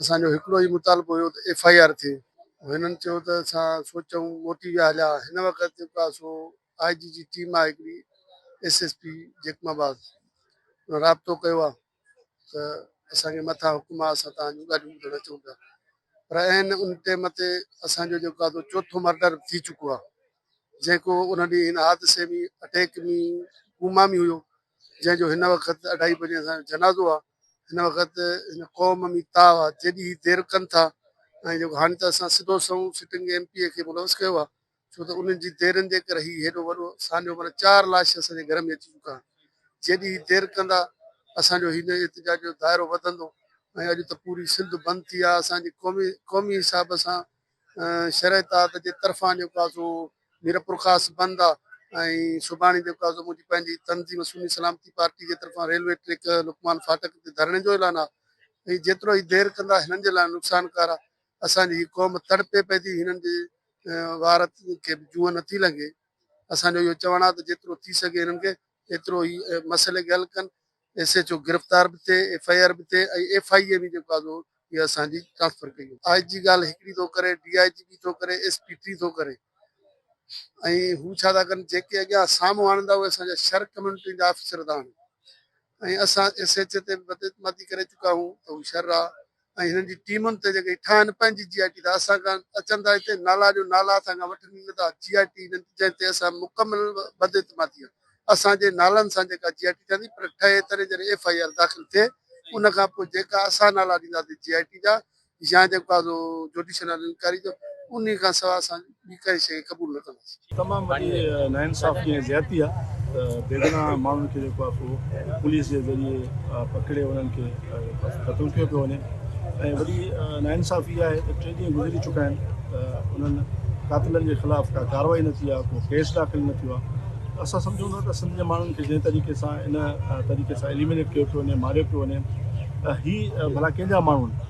اسان جو هڪڙو ئي مطالبو هيو ته ايف آء آر ٿئي. هنن چيو ته اسان سوچون، موٽي ويا هليا. هن وقت جيڪو آهي سو آء جي جي ٽيم آهي هڪڙي S S P Jacobabad ان رابطو ڪيو آهي ته اسان کي مٿان حڪم آهي اسان توهان جون ڳالهيون ٻڌڻ اچون پيا پر عين ان ٽيم تي اسان جو جيڪو آهي سو چوٿون مرڊر به ٿي چڪو آهي. جيڪو ان ڏينهن هن حادثي ۾ اٽيڪ ۾ ڪوما ۾ هيو جنهن جو هن وقت اڍائي بجي اسان جو جنازو آهي هن وقت هن قوم ۾ تاء آهي جيڏي هي دير ڪن ٿا ۽ جيڪو هاڻي ته اسان سڌو سنئون سٽنگ ايم پي اي کي ملوث ڪيو آهي ڇو ته انهن جي ديرن جي ڪري هي هيڏو وڏو سانحو مطلب چار لاش اسان جي گهر ۾ اچي چڪا آهن جيڏي هي دير ڪندا اسان جو هن احتجاج جو دائرو وڌندو ۽ اڄ ته پوري سنڌ بند ٿي آهي اسان جي قومي قومي حساب سان شرح اتحاد جي طرفان جيڪو آ سو ميرپورخاص بند آ ۽ سڀاڻي جيڪو آ سو منهنجي پنهنجي تنظيم سني سلامتي پارٽي جي طرفان ريلوي ٽريڪ لقمان ڦاٽڪ تي ڌرڻي جو اعلان آ ۽ جيترو هي دير ڪندا هنن جي لاء نقصانڪار آ اسان جي هي قوم تڙپي پئي ٿي هنن جي وار کي جونء نٿي لنگهي اسان جو اهو چوڻ آ ته جيترو ٿي سگهي هنن کي ايترو ئي مسئلي کي حل ڪن، ايس ايڇ او گرفتار به ٿئي، ايف آء آر به ٿئي ۽ ايف آء اي به جيڪو آهي سو اها اسان جي ٽرانسفر ڪئي وڃي. آء جي ڳالهه هڪڙي ٿو ڪري، ڊي آء جي ٻي ٿو ڪري، ايس پي ٽي ٿو ڪري ۽ هو ڇا ٿا ڪن جيڪي اڳيان سامهون آڻين ٿا اهي اسان جا شر ڪميونٽين جا آفيسر ٿا آڻين ۽ اسان ايس ايڇ اي تي به بدعتمادي ڪري چڪا آهيون ته هو شر آ ۽ هنن جي ٽيمن ته جيڪي ٺاهن پنهنجي جي آء ٽي ته اسان کان اچن ٿا هتي نالا جو نالا اسان کان وٺن ئي نٿا جي آء ٽي هنن جنهن تي اسان مڪمل بداعتمادي آهي اسان جي نالن سان جيڪا جي آء ٽي ٺهندي پر ٺهي تڏهن جڏهن ايف آء آر داخل ٿئي ان کان پوء جيڪا اسان نالا ڏينداسي جي آء ٽي جا يا جيڪو آهي سو جوڊيشل انڪوائري جو انهي کان سواء اسان ٻي ڪائي شيء قبول نه ڪندس. تمام وڏي ناانصافي ۽ زيادتي آ ته بيگناهه ماڻهن کي جيڪو آ سو پوليس جي ذريعي پڪڙي انهن کي جيڪو آ سو قتل ڪيو پيو وڃي ۽ وڏي ناانصافي اها آهي ته ٽي ڏينهن گذري چڪا آهن ته انهن قاتلن جي خلاف ڪا ڪارروائي نه ٿي آ ڪو ڪيس داخل نه ٿيو آ اسان سمجهون ٿا ته سنڌ جي ماڻهن کي جنهن طريقي سان ان طريقي سان اليمينيٽ ڪيو پيو وڃي ماريو پيو وڃي ته هي ڀلا ڪنهن جا ماڻهو آهن.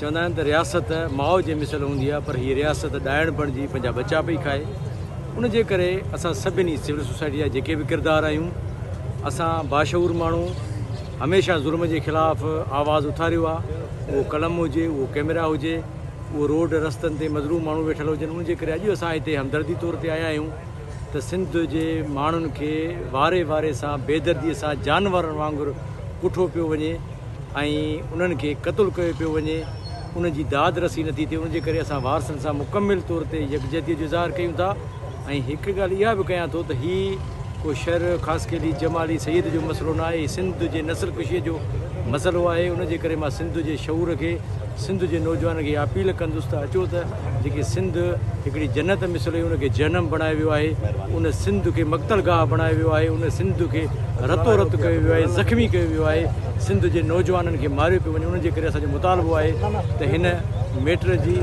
چوندا آهن ته رياست ماء جي مثل هوندي آهي پر هي رياست ڏائڻ بڻجي پنهنجا ٻچا پئي کائي ان جي ڪري اسان سڀني سول سوسائٽي جا جيڪي به ڪردار آهيون اسان باشعور ماڻهو هميشه ظلم جي خلاف آواز اٿاريو آهي اهو قلم هجي اهو ڪيميرا هجي اهو روڊ رستن تي مظلوم ماڻهو ويٺل هجن ان جي ڪري اڄ اسان هتي همدردي طور تي آيا آهيون ته سنڌ جي ماڻهن کي واري واري سان بيدردي سان جانورن وانگر ڪٺو پيو وڃي ۽ انهن کي قتل ڪيو پيو وڃي انهن جي داد رسي نٿي ٿئي ان جي ڪري اسان وارثن سان مڪمل طور تي يڪجهتي جو اظهار ڪيون ٿا ۽ هڪ ڳالهه اها به ڪيان ٿو ته هي ڪو شر خاصخيلي جمالي سيد جو مسئلو ناهي سنڌ جي نسل ڪشي جو مسئلو آهي ان جي ڪري مان سنڌ جي شعور کي سنڌ جي نوجوانن کي اها اپيل ڪندس ته اچو ته جيڪي سنڌ هڪڙي جنت مثل هئي ان کي جهنم بڻايو ويو آهي ان سنڌ کي مقتل گاهه بڻايو ويو آهي ان سنڌ کي رتو رت ڪيو ويو آهي زخمي ڪيو ويو آهي سنڌ جي نوجوانن کي ماريو پيو وڃي ان جي ڪري اسان جو مطالبو آهي ته هن ميٽر جي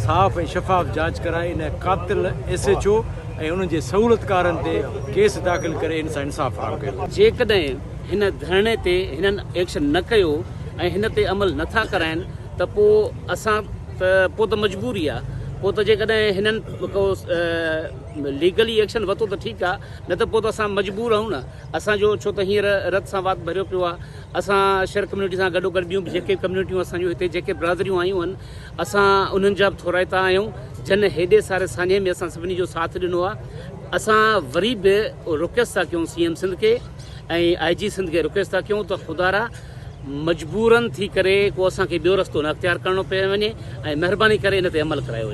صاف ۽ شفاف جاچ ڪرائي ان قاتل ايس ايڇ او ۽ انهن جي سهولتڪارن تي ڪيس داخل ڪري ان سان انصاف فراهم ڪيو وڃي. جيڪڏهن هن ڌرڻي تي هنن ايڪشن نه ڪيو ۽ هن تي عمل نه ٿا ڪرائين ته پو اسان ته پو ته مجبوري آ پو ته جيڪڏهن هنن ڪو ليگلي ايڪشن وتو ته ٺيڪ آ نه ته پو ته اسان مجبور آهيون نه اسان جو ڇو ته هينئر رت سان وات ڀريو پيو آ اسان شهر ڪميونٽي سان گڏو گڏ ٻيون به جيڪي ڪميونٽيون اسان جون هتي جيڪي برادريون آيون هن اسان انهن جا به ٿورائتا آهيون جن هيڏي ساري سانحي ۾ اسان سڀني جو ساٿ ڏنو آ اسان وري به رڪويسٽ ٿا ڪيون سي ايم سنڌ کي ۽ آء جي سنڌ کي رڪويسٽ ٿا ڪيون ته خدارا مجبورن ٿي ڪري ڪو اسان کي ٻيو رستو نه اختيار ڪرڻو پئي وڃي ۽ مهرباني ڪري ان تي عمل ڪرايو وڃي.